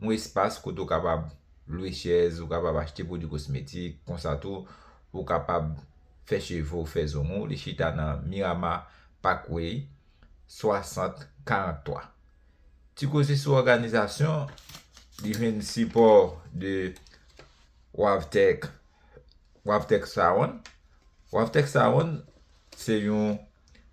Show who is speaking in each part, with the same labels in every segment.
Speaker 1: yon espas kote ou kapab lwe chèz, ou kapab achte pwodui kosmetik, konsa tou ou kapab fè cheve w, fè zong ou, li chita nan Mirama Parkway 6043. Ti koze sou òganizasyon, li jwenn sipò de Wavtec, Wavtec Salon, Wavtec Salon se yon.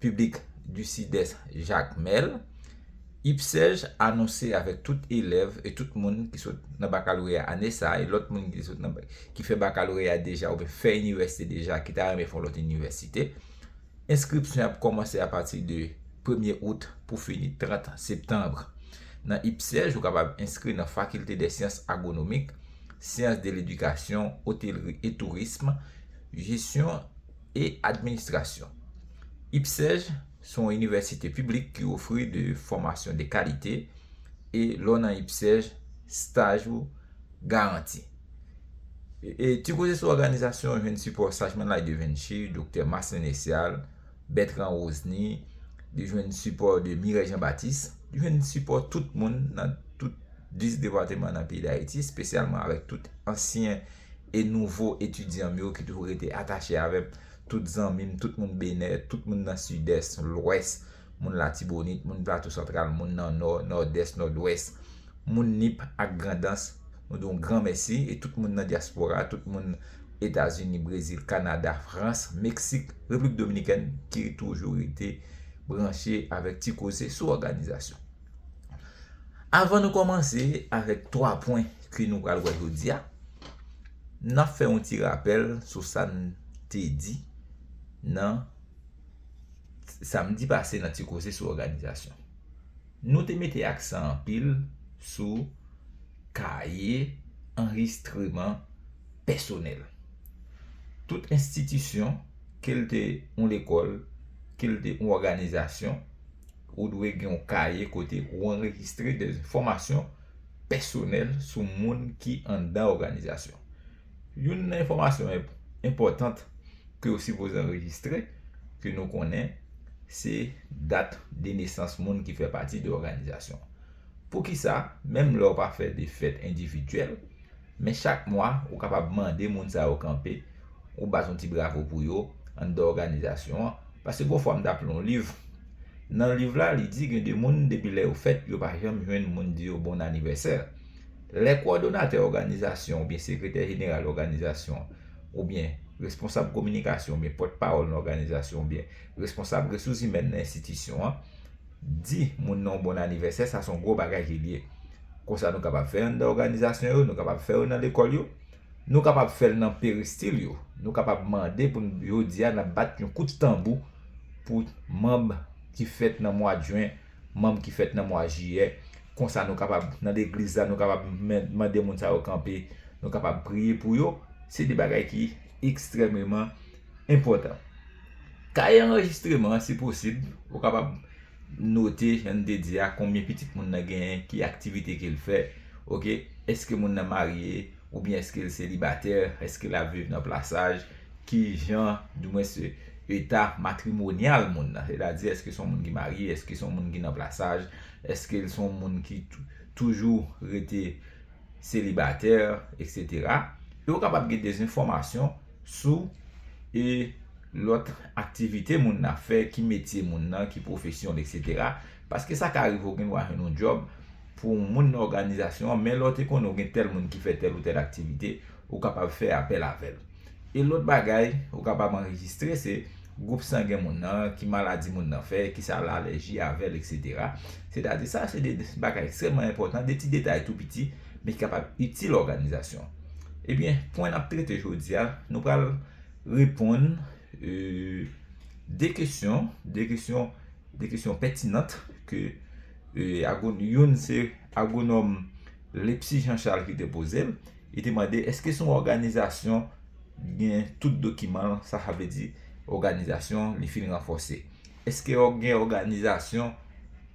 Speaker 1: Piblik di Sidès Jakmèl, IPSEJ anonse avèk tout elèv e tout moun ki sot nan bakaloreya ane sa e lòt moun ki sot nan ki fè bakaloreya deja oubyen fè inivèsite deja ki ta renmen fè yon lòt inivèsite, enskripsyon ap kòmanse apati de premye out pou fini 30 septanb. Nan IPSEJ, ou kapab enskri nan Fakilte dè Syans Agwonomik, Syans de Ledikasyon, Otelri e Tourism, Jesyon, e administrasyon. IPSEJ se yon inivèsite piblik ki ofri de fòmasyon de kalite e lè w nan IPSEJ staj ou garanti. E ti koze sou òganizasyon jwenn sipò Sajman Lai de Vinci, Doktè Maslin Lesial, Bètran Wozny, li jwenn sipò de Mirèy Jan Batis, li jwenn sipò tout moun nan tout 10 depateman nan peyi Dayiti espesyalman avèk tout ansyen e nouvo etidyan m yo ki toujou rete atache avè m, tout zanmi m, tout moun Benè, tout moun nan Sidès, Lwès, moun Latibonit, moun Plato Santral, moun nan Nò, Nòdès, Nòdwès, moun Nip ak Grandans, nou di yon gran mèsi e tout moun nan dyaspora, tout moun Etazini, Brezil, Kanada, Frans, Meksik, Repiblik Dominikèn ki toujou rete branche avèk Ti Koze sou òganizasyon. Avan nou kòmanse avèk 3 pwen ke nou pral wè jodi a, n ap fè yon ti rapèl sou sa n te di nan samdi pase nan ti koze sou òganizasyon. Nou te mete aksan anpil sou kaye anrejistreman pèsonèl. Tout enstitisyon, ke l te yon lekòl, ke l te yon òganizasyon, Ou dwe gen yon kaye kote ou anrejistre de enfòmasyon pèsonèl sou moun ki anndan òganizasyon. Youn nan enfòmasyon enpòtant ke ou sipoze anrejistre ke nou konnen se dat de nesans moun ki fè pati de òganizasyon. Poukisa, menm lè w pa fè de fèt endividyèl, men chak mwa ou kapab mande moun sa yo kanpe, ou bat yon ti bravo pou yo anndan òganizasyon an? Paske gon fwa m t ap li yon liv, nan liv la li di gen de moun depi lè yo fèt yo pa janm jwenn moun di yo bon anivèsè. Lè kowòdonatè òganizasyon oubyen sekretè jeneral òganizasyon oubyen responsab kominikasyon oubyen pòtpawòl nan òganizasyon oubyen responsab resouzimèn nan enstitisyon an, Di moun nan yon bon anivèsè, sa se yon gwo bagay ki lye. Konsa nou kapab fè anndan òganizasyon yo, nou kapab fè yo nan lekòl yo, nou kapab fè l nan peristil yo. Nou kapab mande pou n jodi a n ap bat yon kout tanbou pou manb ki fèt nan mwad jen, manb ki fèt nan mwa jiyè. Konsa nou kapab nan legliz la, nou kapab mande moun sa yo kanpe, nou kapab priye pou yo. Se de bagay ki ekstrèmeman Enpòtan. Kaye anrejistreman an si posib, ou kapab note jan n te di a konbyen pitit moun nan genyen, ki aktivite ke l fè, ok, èske moun nan marye oubyen èske l selibatè, èske l ap viv nan plasaj, ki jan di mwens eta matrimonyal moun nan, sètadi èske s on moun ki marye, èske s on moun ki nan plasaj, èske l s on moun ki toujou rete selibatè, eksetera. E ou kapab gen de enfòmasyon. Sou, e, lòt aktivite moun nan fè, ki metye moun nan, ki pwofesyon l, eksetera. Paske sa ka rive ou gen dwa jwenn yon djòb pou yon moun nan òganizasyon an, men lè w te konnen ou gen tèl moun ki fè tèl ou tèl aktivite, ou kapab fè apèl avè l. E lòt bagay ou kapab anrejistre se, gwoup sangen moun nan, ki maladi moun nan fè, ki sa l alèji avè l, eksetera. Sètadi sa se de bagay ekstrèmman enpòtan, de ti detay tou piti. men ki kapab itil òganizasyon. Ebyen, pwen n ap trete jodi a, nou pral reponn 2 kesyon, 2 kesyon, 2 kesyon pètinant ke agon, youn se agonòm Lepsy Jean Charles ki te poze l, li te mande eske se yon òganizasyon gen tout dokiman l, sa sa vle di òganizasyon li fin ranfòse. Eske gen òganizasyon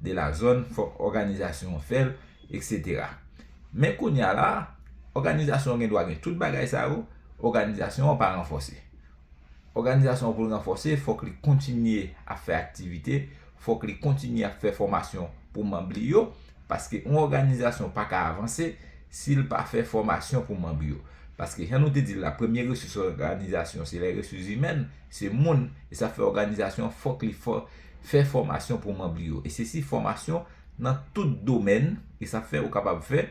Speaker 1: de la zòn fòk òganizasyon an fèl etc. Men kounya la òganizasyon an gen dwa gen tout bagay sa yo òganizasyon an pa ranfòse. Òganizasyon an pou l ranfòse fòk li kontinye ap fè aktivite, fòk li kontinye ap fè fòmasyon pou manb li yo paske yon òganizasyon pa ka avanse si l pa fè fòmasyon pou manb yo. Paske jan nou te di l la premye resous òganizasyon se lè resous imèn, se moun e sa fè òganizasyon fòk li fò. Fè fòmasyon pou manb li yo. E se si fòmasyon nan tout domèn e sa fè ou kapab fè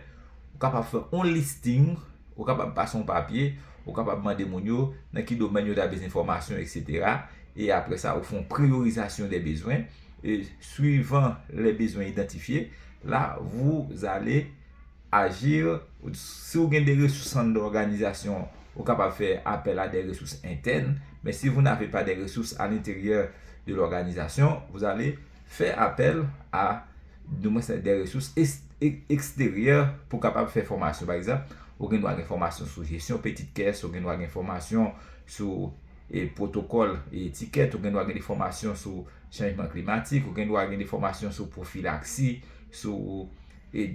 Speaker 1: ou kapab fè yon listing ou kapab pase yon papye ou kapab mande moun yo nan ki domèn yo ta bezwen fòmasyon etc. E apre sa ou fè yon priyorizasyon de bezwen e swivan lè bezwen idantifye la vouzale Agir, Si ou gen de resous anndan òganizasyon an, ou kapab fè apèl a de resous entèn, men si vous n'avez pas des ressources à l'intérieur de l'organisation, vous allez fè apèl a de resous eksteryè pou kapab fè fòmasyon. Pa egzanp, ou gen dwa gen fòmasyon sou jesyon peti kès, ou gen dwa gen fòmasyon sou pwotokòl e etikèt, ou gen dwa gen de fòmasyon sou chanjman klimatik, ou gen dwa gen de fòmasyon sou pwofilaksi, sou.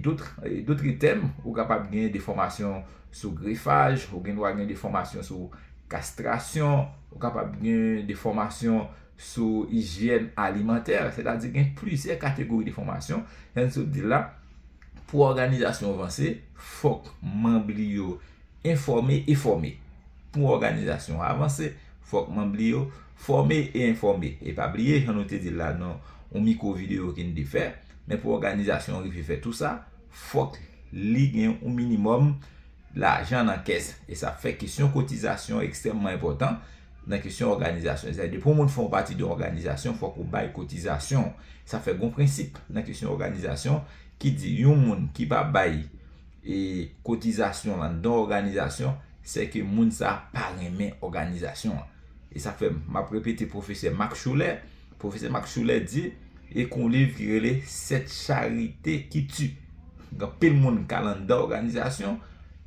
Speaker 1: Dotre tèm, ou kapab gen de fòmasyon sou grefaj, ou gen dwa gen de fòmasyon sou kastrasyon, ou kapab gen de fòmasyon sou ijyèn alimantè, se ta di gen plizyè kategori de fòmasyon, jan sot di la, pou òganizasyon vanse, fòk manb li yo enfòme e fòme. Pou òganizasyon avanse, fòk manb li yo. Fòme e enfòme, e pa bliye jan nou te di l la nan yon mikwo videyo ke n te fè, men pou òganizasyon an rive fè tou sa, fòk li gen yon minimòm lajan nan kès. E sa fè kesyon kotizasyon ekstrèmman enpòtan nan kesyon òganizasyon. Sètadi depi yon moun fè yon pati de yon òganizasyon, fòk ou bay kotizasyon w. Sa fè gen yon prensip nan kesyon òganizasyon ki di yon moun ki pa bay, e kotizasyon lan don òganizasyon sè ke moun sa pa renmen òganizasyon an e sa fè m ap repete pwofesè Max Schuller pwofesè Max Schuller di e kon liv ki rele sèt charite ki ti gen anpil moun ka lan dan òganizasyon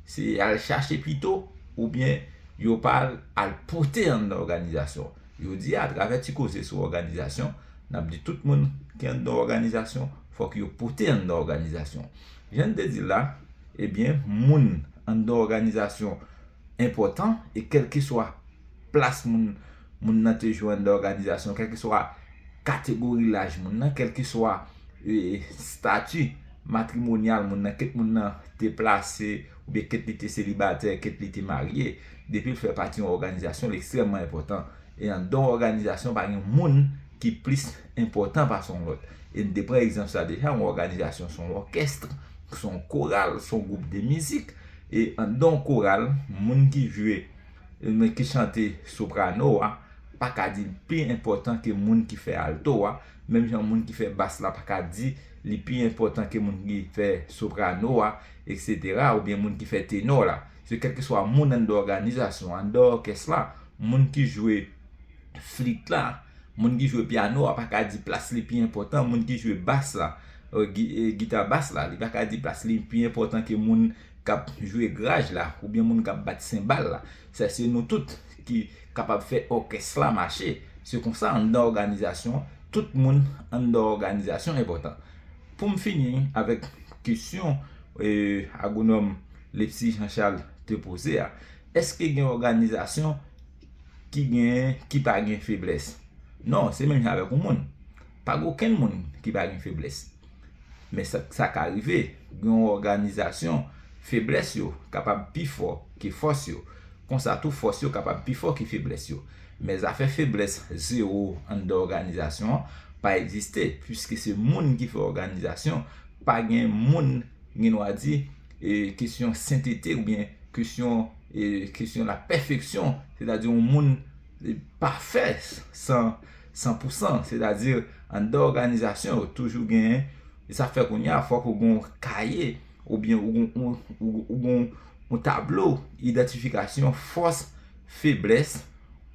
Speaker 1: se al chache pito ou byen yo pa al pote an dan òganizasyon yo di a travè ti koze sou òganizasyon n ap di tout moun ki an dan òganizasyon fòk yo pote an dan òganizasyon Jan n te di l la, ebyen moun anndan òganizasyon enpòtan e kèlkeswa plas moun moun nan te jwe anndan òganizasyon, kèlkeswa kategori laj moun nan, kèlkeswa stati matrimonyal moun nan, kit moun nan te plase oubyen kit li te selibatè, kit li te marye, depi l fè pati yon òganizasyon, l ekstrèmman enpòtan. E anndan yon òganizasyon pa gen moun ki plis enpòtan pase yon lòt. E n te pran egzanp sa deja, yon òganizasyon se yon òkèst, se yon koral, se yon gwoup de mizik. E anndan yon koral, moun ki jwe, moun ki chante soprano a, pa ka di li pi enpòtan ke moun ki fè alto a, menm jan moun ki fè bas la pa ka di li pi enpòtan ke moun ki fè soprano a, eksetera, oubyen moun ki fè tenò la. Se kèlkeswa moun anndan òganizasyon an, anndan òkès la, moun ki jwe. flit la, moun ki jwe pyano a pa ka di plas li pi enpòtan moun ki jwe bas la, gita bas la, li pa ka di plas li pi enpòtan ke moun k ap jwe graj la oubyen moun k ap bat senbal la. Sa se nou tout ki kapab fè òkès la mache. Se konsa anndan òganizasyon, tout moun anndan òganizasyon enpòtan. Pou m fini avèk kesyon Agonòm Lepsy Jean Charles te poze a, èske gen òganizasyon? ki gen, ki pa gen feblès. Non, se menm jan avèk yon moun. Pa gen okenn moun ki pa gen feblès. Men sa ka rive, gen yon òganizasyon, feblès yo kapab pi fò ke fòs yo. Konsa tou fòs yo kapab pi fò ke feblès yo. Men zafè feblès zewo anndan òganizasyon an pa egziste, puiske se moun ki fè òganizasyon, pa gen moun, gen dwa di, Kesyon sentete oubyen kesyon kesyon la pèfeksyon, sètadi yon moun pafè san san pou san, sètadi anndan òganizasyon yo toujou gen, e sa fè kounye a fòk ou gen yon kaye oubyen ou gen yon tablo idantifikasyon fòs, feblès,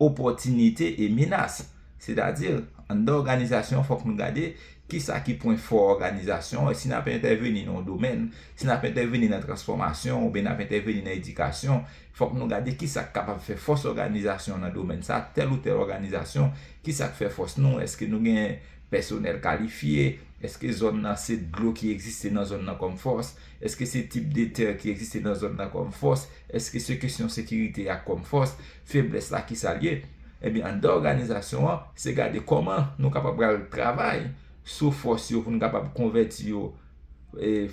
Speaker 1: opòtinite e menas. Sètadi anndan òganizasyon fòk nou gade Kisa ki pwen fò òganizasyon an? Si n ap entèveni nan yon domèn, si n ap entèveni nan transfòmasyon oubyen n ap entèveni nan edikasyon, fòk nou gade kisa k kapab fè fòs òganizasyon an nan domèn sa a, tèl ou tèl òganizasyon, kisa k fè fòs nou? Èske nou gen pèsonèl kalifye? Èske zòn nan se dlo ki egziste nan zòn nan kòm fòs? Èske se tip de tè ki egziste nan zòn nan kòm fòs? Èske se kesyon sekirite a kòm fòs? Feblès la kisa l ye? Ebyen anndan òganizasyon an se gade kòman nou kapab pral travay sou fòs yo pou n kapab konvèti yo e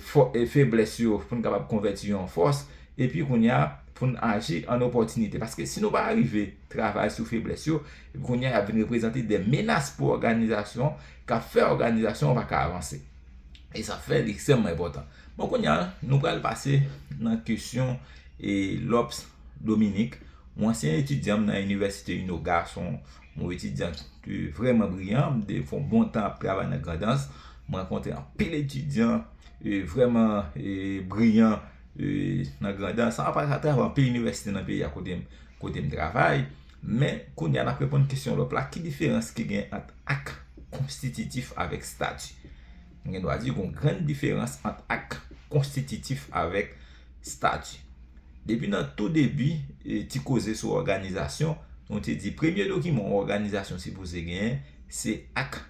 Speaker 1: feblès yo pou n kapab konvèti yo an fòs epi kounye a pou n aji an opòtinite paske si nou pa rive travay sou feblès yo epi kounye a y ap vin reprezante de menas pou òganizasyon k ap fè òganizasyon an pa ka avanse e sa fè li ekstrèmman enpòtan bon kounye a nou pral pase nan kesyon e lòps. Dominik, yon ansyen etidyan m nan inivèsite Uno Gason, yon etidyan ki vrèman briyan, m te fè yon bon tan ap travay nan Grandans, m rankontre anpil etidyan vrèman briyan nan Grandans, san pa travay nan anpil inivèsite nan peyi a kote m travay, men kounye a n ap reponn kesyon lòp la, ki diferans ki gen ant ak konstititif avèk stati? Nou gen dwa di gon grann diferans ant ak konstititif avèk stati. Depi nan tou debi ti koze sou òganizasyon, nou te di premye dokiman yon òganizasyon sipoze genyen se ak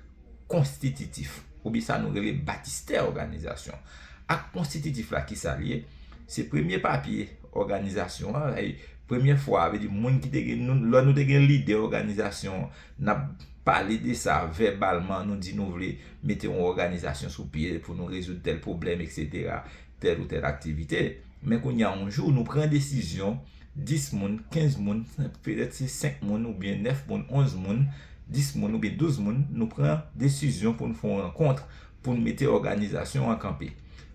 Speaker 1: konstititif oubyen sa nou rele batistè òganizasyon. Ak konstititif la ki sa l ye? Se premye papye òganizasyon an, premye fwa, vle di moun ki te gen, lò nou te gen lide òganizasyon an, N ap pale de sa vèbalman, nou di nou vle mete yon òganizasyon sou pye pou nou rezoud tèl pwoblèm eksetera, tèl ou tèl aktivite. Men kounye a yon jou nou pran desizyon 10 moun, 15 moun, petèt se 5 moun oubyen 9 moun, 11 moun, 10 moun oubyen 12 moun, nou pran desizyon pou n fè yon rankontr pou n mete òganizasyon an kanpe.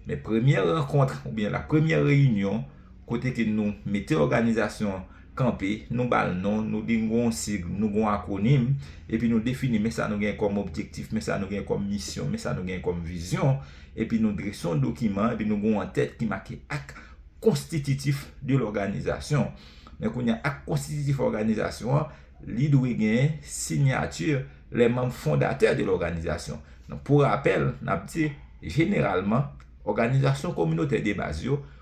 Speaker 1: Men premyè rankontr oubyen la premyè reyinyon, Kote ke nou mete òganizasyon an kanpe, nou ba l non, nou di n gen yon sig, nou gen yon akwonim, epi nou defini men sa nou gen kòm objektif, men sa nou gen kòm misyon, men sa nou gen kòm vizyon, epi nou drese yon dokiman, epi nou gen yon antèt ki make ak konstititif de lòganizasyon. Men kounye a, ak konstititif òganizasyon an, li dwe gen sinyati lè manm fondatè de lòganizasyon. Pou rapèl, n ap di, jeneralman, òganizasyon kominotè debaz yo,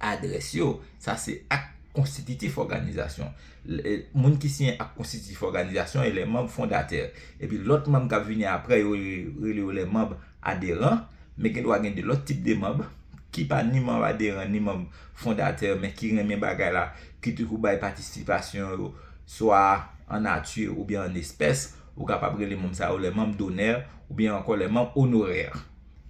Speaker 1: adrès yo. Sa se ak konstititif òganizasyon. Moun ki siyen ak konstititif òganizasyon e lè manb fondatè. Epi lòt manb k ap vini apre yo rele yo lè manb aderan. Men gen dwa gen de lòt tip de manb ki pa ni manb aderan ni manb fondatè men ki renmen bagay la, ki te kou bay patisipasyon yo swa an nati oubyen an espès. Ou kapab rele manb sa yo lè manb donè oubyen ankò lè manb onorè.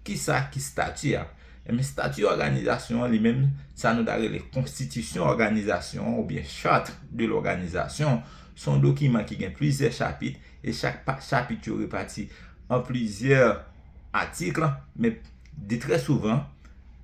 Speaker 1: Kisa ki stati a? Enben stati òganizasyon an li menm sa nou ta rele konstitisyon òganizasyon an oubyen charte de l'organisation se yon dokiman ki gen plizyè chapit e chak chapit yo repati an plizyè atik men de trè souvan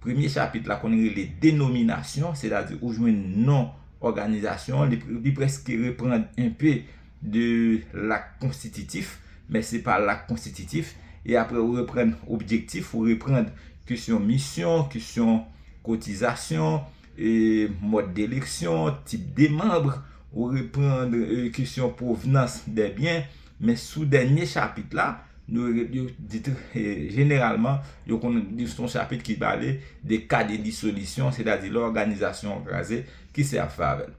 Speaker 1: premye chapit la konn rele denominasyon sètadi ou jwenn non òganizasyon an li prèske reprann enpe de lak konstititif, men se pa lak konstititif, e apre ou reprann objektif, ou reprann kesyon misyon, kesyon kotizasyon, e mòd de leksyon, tip de manbre, ou reprann kesyon pwovnans de byen, men sou dènye chapit la, nou yo di tou, jeneralman, yo konnen di son chapit ki pale de ka de disolisyon, se ta di lè òganizasyon an kraze, ki sa y ap fè avè l?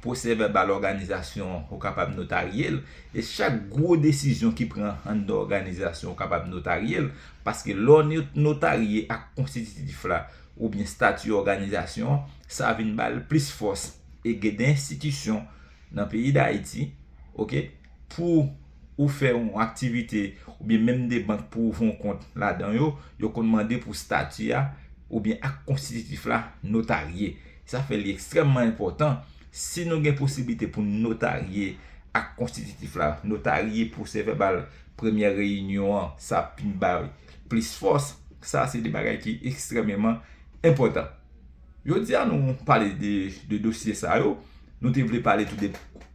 Speaker 1: Pwosèvèbal òganizasyon an ou kapab notarye l e chak gwo desizyon ki pran anndan òganizasyon ou kapab notarye l paske lè w notarye ak konstititif la oubyen stati òganizasyon an sa vin ba l plis fòs e gen de enstitisyon nan peyi Dayiti ok pou ou fè yon aktivite oubyen menm de bank pou ouvri yon kont ladan yo yo konn mande pou stati a oubyen ak konstititif la notarye. Sa fè li ekstrèmman enpòtan, si nou gen posiblite pou n notarye ak konstititif la, notarye pwosè vèbal premyè reyinyon an, sa ap vin bay plis fòs. Sa a se 2 bagay ki ekstrèmeman enpòtan. Jodi a nou pale de 2 dosye sa yo. Nou te vle pale tou de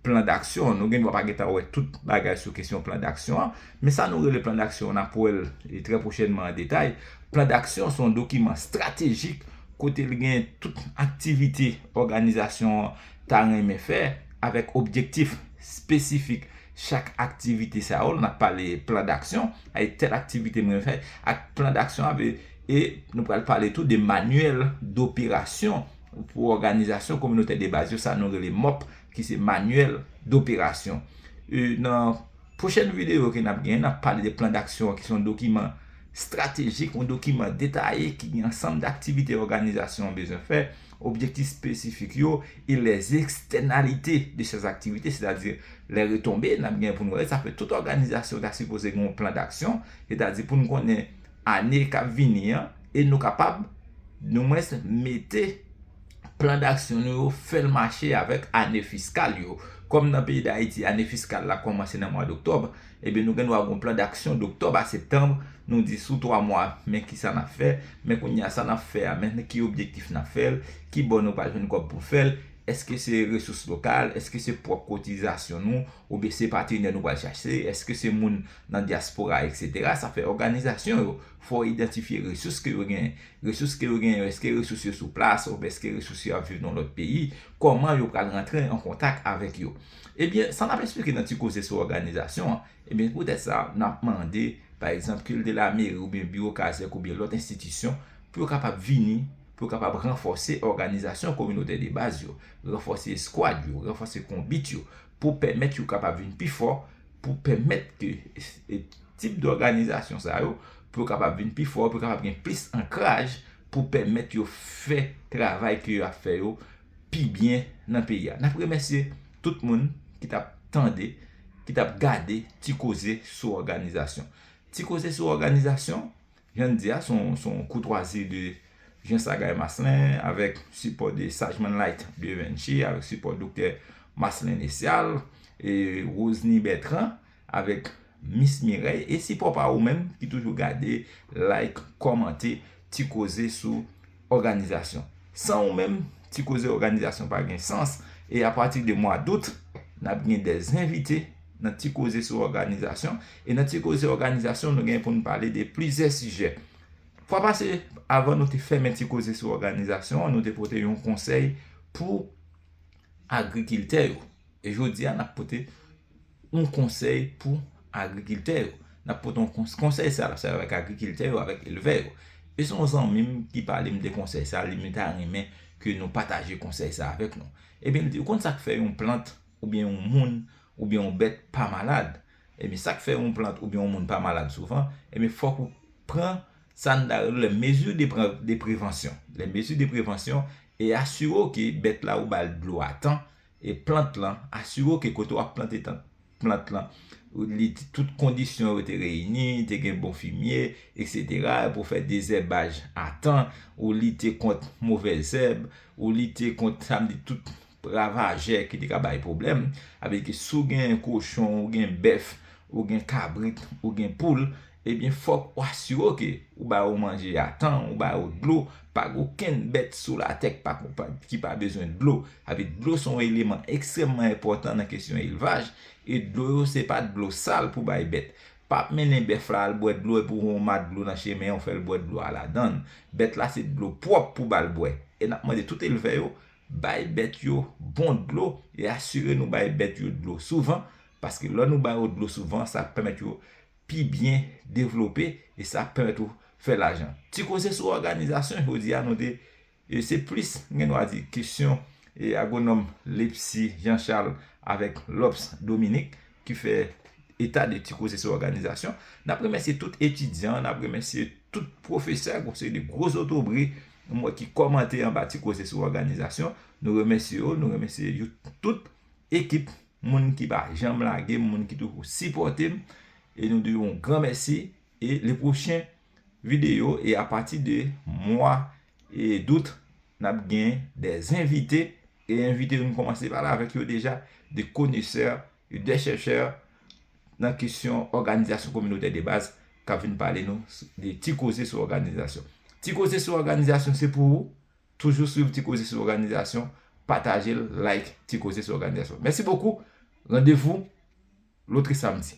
Speaker 1: plan daksyon. Nou gen dwa pa gen tan wè tout bagay sou kesyon plan daksyon an. Men sa nou rele Plan Daksyon an, n ap wè l trè pwochènman an detay. Plan Daksyon se yon dokiman stratejik kote li gen tout aktivite òganizasyon an ta renmen fè avèk objektif espesifik chak aktivite sa yo. N ap pale Plan Daksyon, e tèl aktivite mwen fè ak Plan Daksyon an vle e nou pral pale tou de manyèl doperasyon pou òganizasyon kominotè debaz yo, sa nou rele mòp ki se manyèl doperasyon. Nan. Pwochèn videyo ke n ap gen, n ap pale de plan daksyon an ki se yon dokiman estratejik, yon dokiman detaye ki gen ansanm daktivite òganizasyon an bezwen fè, objektif espesifik yo e les externalités de ces activités, sètadi les retombées n ap gen pou nou wè. Sa fè tout òganizasyon ta sipoze gen yon plan daksyon, sètadi pou nou konnen ane k ap vini an e nou kapab nou mwens mete. plan daksyon nou yo fè l mache avèk ane fiskal yo. Kòm nan peyi Dayiti ane fiskal la kòmanse nan mwa doktòb, ebyen nou gen dwa gen yon plan daksyon doktòb a septanb, nou di sou 3 mwa men ki sa n ap fè, men kounye a sa n ap fè a men ki objektif n ap fè l, ki bò nou pral jwenn kòb pou fè l, èske se resous lokal, èske se pwòp kotizasyon nou oubyen se patenè nou pral chache, èske se moun nan dyaspora eksetera. Sa fè òganizasyon yo fò idantifye resous ke yo genyen. Resous ke yo genyen yo, eske resous yo sou plas oubyen eske resous yo ap viv nan lòt peyi, kòman yo pral rantre an kontak avèk yo. Ebyen, sa n ap esplike nan ti koze sou òganizasyon an, ebyen se poutèt sa n ap mande, pa egzanp, kil de lameri oubyen biwo kazèk oubyen lòt enstitisyon pou yo kapab vini, pou yo kapab ranfòse òganizasyon kominotè debaz yo, ranfòse eskwad yo, ranfòse konbit yo, pou pèmèt yo kapab vin pi fò, pou pèmèt ke tip dòganizasyon sa yo, pou yo kapab vin pi fò, pou yo kapab gen plis ankraj, pou pèmèt yo fè travay ke yo ap fè yo pi byen nan peyi a. N ap remèsye tout moun ki t ap tande, ki t ap gade Ti Koze sou Òganizasyon. Ti Koze sou Òganizasyon. Jan n di a, s on koutwazi de Jean Sagaye Maslin avèk sipò de Sajman Light de Vinci avèk sipò Doktè Maslin Nesial e Rosny Bertrand avèk Miss Mireille e sipò pa ou menm ki toujou gade, like, kòmante ti koze sou. òganizasyon. San ou menm, ti koze òganizasyon pa gen sans e a pati de mwa dout, n ap gen de envite nan ti koze sou òganizasyon e nan ti koze òganizasyon nou gen pou nou pale de plizyè sijè. Fwa pase, avan nou te fèmen ti koze sou òganizasyon an, nou te pote yon konsèy pou agrikiltè yo e jodi a n ap pote yon konsèy pou agrikiltè yo. N ap pote yon konsèy sa la se avèk agrikiltè yo, avèk elvè yo. E se yon zanmi m ki pale m de konsèy sa, li m ta renmen ke nou pataje konsèy sa avèk nou. Ebyen li di, ou konn sa k fè yon plant oubyen yon moun oubyen yon bèt pa malad? Ebyen sa k fè yon plant oubyen yon moun pa malad souvan, ebyen fòk ou pran sa n ta rele lè mezi de pre, de prevansyon. Lè mezi de prevansyon e asire w ke bèt la ou ba l dlo a tan, e plant lan, asire w ke kote w ap plante plant lan, tout kondisyon yo te reyini, te gen bon fimye, eksetera, epi w fè dezèbaj a tan, ou lite kont movè zèb, ou lite kont sa m di tout ravajè ki te ka bay pwoblèm, sa vle di ke si w gen kochon, ou gen bèf, ou gen kabrit, ou gen poul, Ebyen fòk ou asire ke ou ba yo manje a tan, ou ba yo dlo, pa gen okenn bèt sou latè ki pa ki pa bezwen dlo. Sa vle di dlo se yon eleman ekstrèmman enpòtan nan kesyon elvaj, e dlo yo se pa dlo sal pou bay bèt. Pa ap mennen bèf la al bwè dlo epi ou wè yon ma dlo nan chemen an ou fè l bwè dlo a ladan l. Bèt la se dlo pwòp pou ba l bwè. E n ap mande tout elvè yo bay bèt yo bon dlo e asire nou bay bèt yo dlo souvan, paske lò nou ba yo dlo souvan sa ap pèmèt yo pi byen devlope e sa ap pèmèt ou fè lajan. Ti koze sou òganizasyon jodi a nou te se plis m gen dwa di kesyon agwonòm Lepsy Jean Charles avèk Lobs Dominique ki fè eta de ti koze sou òganizasyon. N ap remèsye tout etidyan, n ap remèsye tout pwofesè ak yon seri de gwo zotobre m wè ki kòmante anba ti koze sou òganizasyon. Nou remèsye yo, nou remèsye tout ekip. moun ki pa janm lage m, moun ki toujou sipòte m e nou di yon gran mèsi e le pwochen videyo e a pati de mwa dout n ap gen dè envite e envite yo nou kòmanse pale avèk yo deja de konesè, dè chèchè nan kesyon òganizasyon kominotè de baz k ap vin pale nou de ti koze sou òganizasyon. Ti koze sou òganizasyon se pou ou Toujou swiv ti koze sou òganizasyon, pataje l, like ti koze sou òganizasyon. Mèsi bokou, randevou lotrisamdi.